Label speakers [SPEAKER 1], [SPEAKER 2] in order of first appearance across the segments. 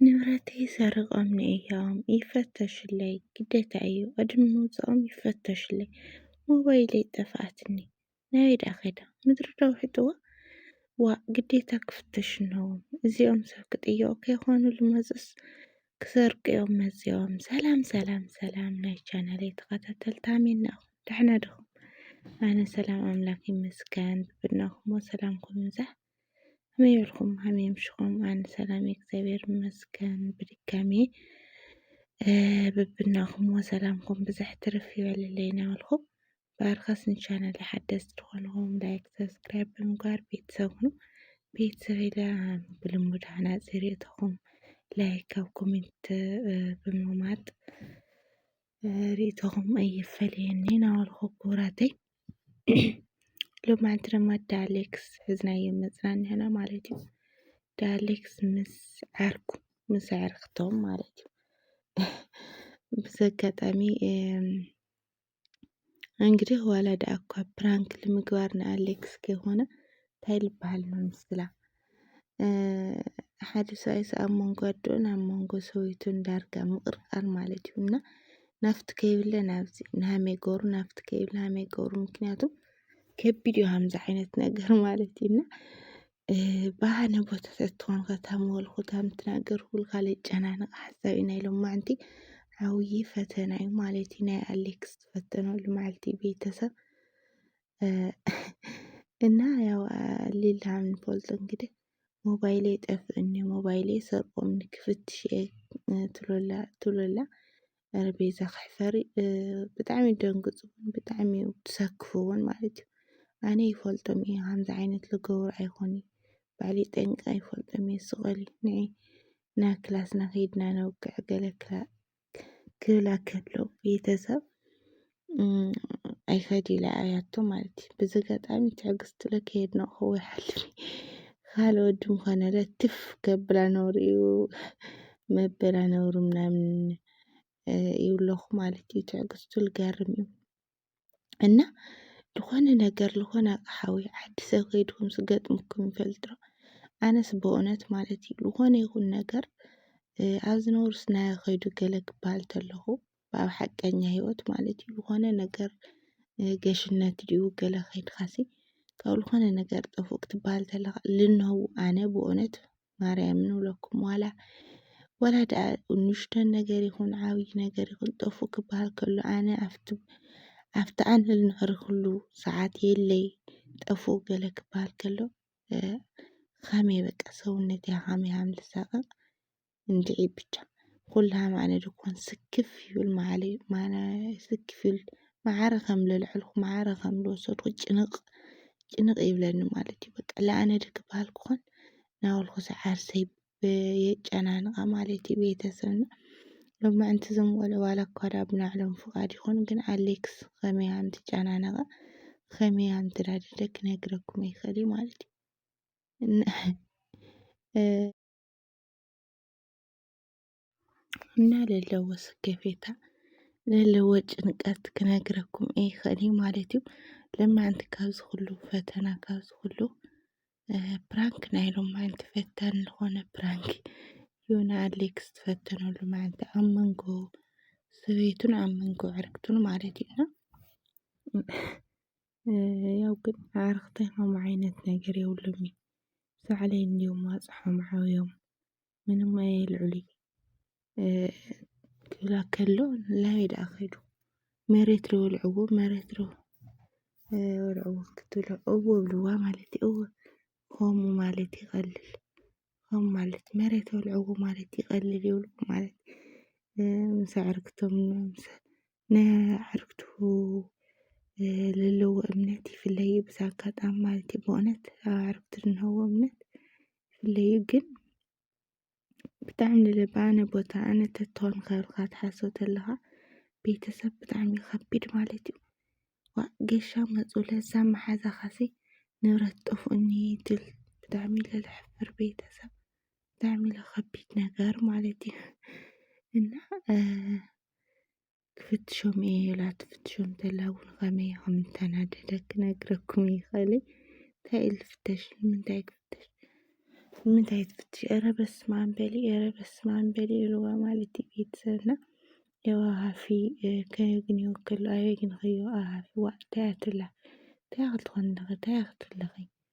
[SPEAKER 1] ንብረተይ ሰሪቆምኒ እዮም ይፈተሹለይ ግዴታ እዩ ቅድሚ ምውፀኦም ይፈተሹለይ ሞባይለይ ጠፍኣትኒ ናበይ ድኣ ከይዳ ምድሪ ዶ ውሒጥዋ ዋእ ግዴታ ክፍተሹ ኣለዎም እዚኦም ሰብ ክጥየቁ ከይኮኑ ዝመፁስ ክሰርቁ እዮም መፂኦም ሰላም ሰላም ሰላም ናይ ቻናለይ ተኸታተልቲ ኣሜን ናኹም ደሕና ድኹም ኣነ ሰላም ኣምላክ ይመስገን ብናኹሞ ሰላምኩም ይብዛሕ ከመይ በልኩም ከመይ ኣምሽኹም ኣነ ሰላም እየ እግዚኣብሔር ይመስገን ብድጋሚ ብብናኹም ሰላምኩም ብዝሕ ትርፍ ይበልለይ ናበልኩ ብኣርካስ ንቻናል ሓደስቲ ዝኾንኹም ላይክ ሰብስክራይብ ብምግባር ቤተሰብ ሁኑ ቤተሰብ ኢለ ብልሙድ ሃናፂ ርእቶኹም ላይክ ኣብ ኮሜንት ብምቕማጥ ርእቶኹም ኣይፈለየኒ ናበልኹ ክቡራተይ ሎማዓንቲ ድማ ዳሌክስ ሕዝናዮ መፅና ንሕና ማለት እዩ ዳሌክስ ምስ ዓርኩ ምስ ኣዕርኽቶም ማለት እዩ ብዚ ኣጋጣሚ እንግዲህ ዋላ ደኣ እኳ ፕራንክ ንምግባር ንኣሌክስ ከይኮነ እንታይ ልበሃል ንምስላ ሓደ ሰብኣይ ኣብ መንጎ ኣደኡን ኣብ መንጎ ሰበይቱን ዳርጋ ምቕርቃር ማለት እዩ እና ናፍቲ ከይብለ ናብዚ ንሃመይ ገሩ ናፍቲ ከይብለ ሃመይ ገሩ ምክንያቱ ከቢድ እዩ ሃምዚ ዓይነት ነገር ማለት እዩ እና ባህነ ቦታታት ትኾን ከታመወልኩ ታምትናገር ኩል ካለ ጨናንቕ ሓሳብ ኢና ኢሎም ማዕንቲ ዓብዪ ፈተና እዩ ማለት እዩ ናይ ኣሌክስ ዝፈተነሉ መዓልቲ ቤተሰብ እና ያው ሊላ ንፈልጦ እንግዲህ ሞባይሌ ጠፍእኒ ሞባይሌ ሰርቆምኒ ክፍትሽ እየ ትብለላ ትብለላ ረቤዛ ክሕፈሪ ብጣዕሚ ደንግፁ እውን ብጣዕሚ እዩ ትሰክፉ እውን ማለት እዩ ኣነ ይፈልጦም እየ ከምዚ ዓይነት ዝገብሩ ኣይኮኑ ባዕሊ ጠንቂ ኣይፈልጦም እየ ስቐል ንዒ ናብ ክላስና ከይድና ነውግዕ ገለ ክላ ክብል ኣከሎ ቤተሰብ ኣይፈድ ኢለ ኣያቶ ማለት እዩ በዚ ኣጋጣሚ ትዕግስቲ ለከየድ ነው ክወሓልኒ ካል ወዲ ምዃነ ለትፍ ከብላ ነውሪ እዩ መበላ ነውሪ ምናምን ይብለኹ ማለት እዩ ትዕግስቱ ልገርም እዩ እና ዝኾነ ነገር ዝኾነ ኣቕሓ ወይ ዓዲ ሰብ ከይድኩም ዝገጥምኩም ይፈልጥ ዶ? ኣነስ ብእውነት ማለት እዩ ዝኾነ ይኹን ነገር እ፣ ኣብ ዝነበሩስናዮ ከይዱ ገለ ክበሃል ተለኹ ብኣብ ሓቀኛ ህይወት ማለት እዩ ዝኾነ ነገር እ፣ ገሽነት ድዩ ገለ ከይድካሲ ካብ ዝኾነ ነገር ጠፉእ ክትበሃል ተለኻ ልንህው ኣነ ብእውነት ማርያም ንብለኩም ዋላ ዋላ ደኣ ንእሽቶን ነገር ይኹን ዓብዪ ነገር ይኹን ጠፉእ ክበሃል ከሎ ኣነ ኣብቲ ኣብቲ ኣንህል ንዕርኽሉ ሰዓት የለይ ጠፉእ ገለ ክበሃል ከሎ ኻመይ በቃ ሰውነት ኻመይ ሃም ልሳቀቅ እንድዒ ብቻ ኩልሃም ኣነ ድኮን ስክፍ ይብል ማለ ማነ ስክፍ ይብል መዓረ ከም ለልዐልኩ መዓረ ከም ልወሰድኩ ጭንቕ ጭንቕ ይብለኒ ማለት እዩ በቃ ለኣነ ዶ ክበሃል ክኾን ናበልኩሰ ዓርሰይ የጨናንቓ ማለት እዩ ቤተሰብና ሎሚ ምዕንቲ እዞም ቆልዑ ዋላ እኳ ድኣ ብናዕሎም ፍቓድ ይኹን ግን ኣሌክስ ከመይ ከም ትጨናነቐ ከመይ ከም ትዳድደ ክነግረኩም ይኽእል እዩ ማለት እዩ እና እ፣ እና ለለዎ ስከፌታ ለለዎ ጭንቀት ክነግረኩም ይኸእልዩ ማለት እዩ ለማንቲ ካብ ዝኽሉ ፈተና ካብ ዝኽሉ ፕራንክ ናይ ሎማዓንቲ ፈታኒ ዝኾነ ፕራንክ ዮና ኣሌክስ ዝፈተኖ ሎማዓንቲ ኣብ መንጎ ሰበይቱን ኣብ መንጎ ዕርክቱን ማለት እዩ እና ያው ግን ኣዕርኽተይ ከምኡ ዓይነት ነገር የብሎምን ሳዕለይ እንዲዮም ዋፅሖም ዓብዮም ምንም ኣየልዕሉይ ክብላ ከሎ ላበይ ደኣ ከይዱ መሬት ዶ ወልዕዎ መሬት ዶ ወልዕዎ ክትብሎ እዎ ብልዋ ማለት እዩ እዎ ኸሙ ማለት ይቐልል ኸሙ ማለት መሬት ወልዕዎ ማለት ይቐልል ይብሉ ማለት ምሰ ዕርክቶም ምሰ ንኣዕርክቱ ለለዎ እምነት ይፍለዩ ብዛ ኣጋጣሚ ማለት እዩ ብእውነት ኣዕርክቱ ዝንሀዎ እምነት ይፍለዩ ግን ብጣዕሚ ንልባ ነቦታ ነተትሆን ከብርካ ትሓሶ ተለኻ ቤተሰብ ብጣዕሚ ኸቢድ ማለት እዩ ዋ ገሻ መፁ ለዛ መሓዛኻሲ ንብረት ጠፍኡኒ ትብል ብጣዕሚ ለለሕፍር ቤተሰብ ብጣዕሚ ለኸቢድ ነገር ማለት እዩ እና ክፍትሾም እየ ኢላ ትፍትሾም ተላ እውን ከመይ ከም እተናደደ ክነግረኩም ይኽእልይ እንታይ ኢል ፍተሽ ንምንታይ ክፍተሽ ንምንታይ ትፍትሽ ኧረ በስመ ኣብ በሊ ኧረ በስመ ኣብ በሊ ኢልዋ ማለት እዩ ቤተሰብና ያው ሃፊ ከየግንዮ ከሎ ኣየግንኸዮ ኣሃፊ ዋእ እንታይ ኣትላ እንታይ ክትኾን ኣለኺ እንታይ ክትብለኺ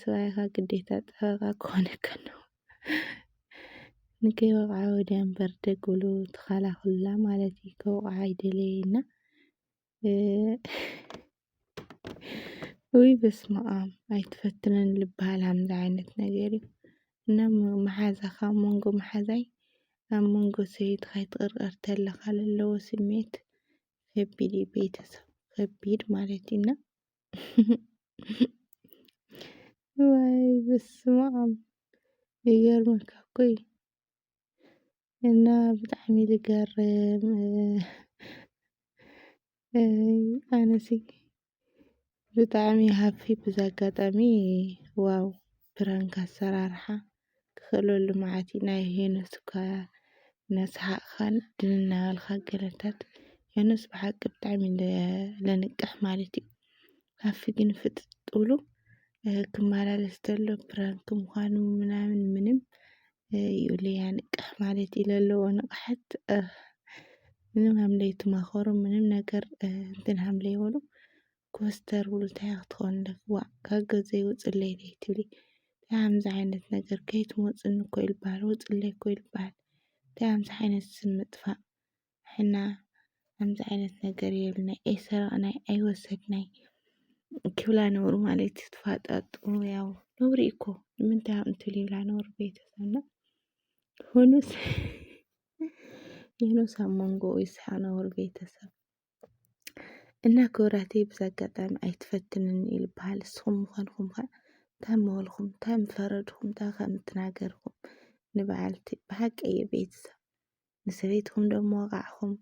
[SPEAKER 1] ስራይኻ ግዴታ ጠበቓ ክኾነካ ኣለዎ። ንከይወቕዓ ወዲያ እምበር ደግ ብሉ ትኻላኽሉላ ማለት እዩ። ከውቕዓ ኣይደለየ እና ውይ በስመኣም ኣይትፈትነን ልበሃል ሃምዚ ዓይነት ነገር እዩ እና መሓዛኻ ኣብ መንጎ መሓዛይ ኣብ መንጎ ሰበይትኻ ይትቕርቐር ተለኻ ለለዎ ስሜት ከቢድ እዩ ቤተሰብ ከቢድ ማለት እዩ እና ወይ በስመኣም ይገርመካ እኮ እዩ እና ብጣዕሚ ልገርም ኣነሲ ብጣዕሚ ሃፊ ብዚ ኣጋጣሚ ዋው ፕራንክ ኣሰራርሓ ክህሉ ልምዓት እዩ። ናይ ሄኖስ እኳ እናሰሓቕኻን ድንን እናበልካን ገለታት ሄኖስ ብሓቂ ብጣዕሚ ለንቅሕ ማለት እዩ። ሃፊ ግን ፍጥጥ ብሉ ክመላለስ ተሎ ፕራንክ ምዃኑ ምናምን ምንም ይብሉ ያንቅሕ ማለት እዩ ለለዎ ንቕሓት ምንም ሃምለይ ትማኸሩ ምንም ነገር እንትን ሃምለይ በሉ ኮስተር ብሉ እንታይ ኢያ ክትኾኑ ደኺ ዋእ ካብ ገዘይ ውጽለይ ደይትብሊ እንታይ ኣምዚ ዓይነት ነገር ከይትሞጽኒ እኮ ኢዩ ልባሃል ውጽለይ እኮ ኢዩ ልባሃል እንታይ ኣምዚ ዓይነት ስም ምጥፋእ ሕና ኣምዚ ዓይነት ነገር የብልናይ ኣይሰረቕናይ ኣይወሰድናይ ክብላ ነብሩ ማለት እዩ ትፋጣጡ ያው ነብሪ እዩ እኮ ንምንታይ ኣብኡ ትብል ይብላ ነብሩ ቤተሰብና ሆኖስ ሆኖስ ኣብ መንጎኡ ይስሓቕ ነብሩ ቤተሰብ እና ክብራተይ ብዛ ኣጋጣሚ ኣይትፈትንኒ እዩ ዝበሃል ንስኹም ምዃንኩም ከ እንታይ ምበልኹም እንታይ ምፈረድኹም እንታይ ከም እትናገርኹም ንበዓልቲ ብሓቂ እየ ቤተሰብ ንሰበይትኹም ደሞ ወቓዕኹም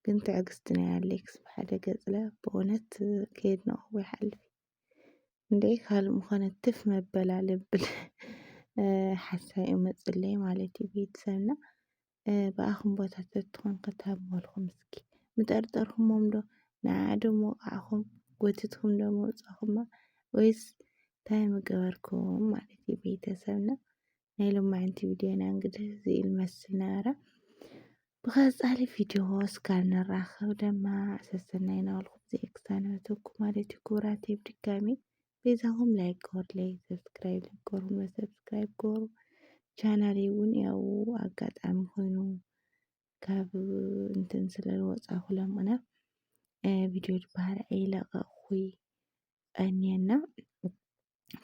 [SPEAKER 1] ግን ትዕግስቲ ናይ ኣሌክስ ብሓደ ገጽለ ብእውነት ከየድነቕኹ ይሓልፍ እንድዒ ካልእ ምኾነ ትፍ መበላ ልብል ሓሳብ እዩ መፅለይ ማለት እዩ ቤተሰብና ብኣኹም ቦታ ተትኾን ከትህብ መልኩም እስኪ ምጠርጠርኩሞምዶ ንዓዓዶ ምወቓዕኹም ጎቲትኩምዶ ምውጻኹማ ወይስ ታይ ምገበርኩም ማለት እዩ ቤተሰብና ናይ ሎማዕንቲ ቪድዮና እንግዲህ እዚ ይመስል ነበረ ብቐጻሊ ቪድዮ እስካብ ንራኸብ ደማ ሰሰናይ ናበልኩም ዘየክሳነበተኩም ማለት እዩ ክቡራተይ ብድጋሚ ቤዛኹም ላይክ ግበሩለይ፣ ሰብስክራይብ ላይክ ግበሩለ፣ ሰብስክራይብ ግበሩ። ቻናሌ እውን ያው ኣጋጣሚ ኮይኑ ካብ እንትን ስለ ዝወፃኹ ለምእነ ቪድዮ ድበሃል ኣይለቐቕኹይ ቀንየና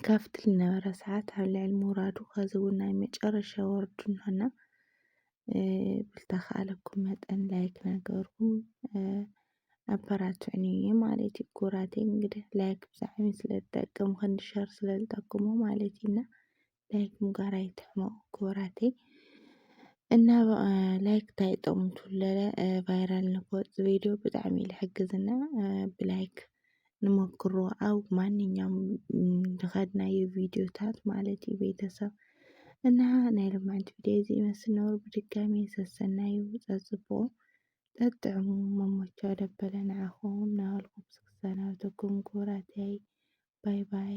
[SPEAKER 1] ካብቲ ዝነበረ ሰዓት ኣብ ልዕሊ ምውራዱ ከዚ እውን ናይ መጨረሻ ወርዱ እንሆና ብልተኸኣለኩም መጠን ላይክ ነገርኩም ኣበራትዑኒ ማለት እዩ ኩራቴ እንግዲህ ላይክ ብዛዕሚ ስለ ዝጠቅም ክንዲ ሸር ስለ ዝጠቅሙ ማለት እዩ እና ላይክ ምጋር ኣይትሕመቁ ክቡራተይ እና ላይክ እንታይ ጥቕሙ ትብለለ ቫይራል ንክወፅ ቪድዮ ብጣዕሚ እዩ ዝሕግዝና ብላይክ ንመክሮ ኣብ ማንኛውም ዝኸድናዮ ቪድዮታት ማለት እዩ ቤተሰብ እና ናይ ልማንት ቪድዮ እዚ ይመስል ነብሩ ብድጋሚ ሰሰናዩ ፀፅብቑ ጠጥዕሙ መሞቻ ደበለ ንዓኹም ናበልኩ ክሰናበተኩም ክቡራተይ ባይ ባይ።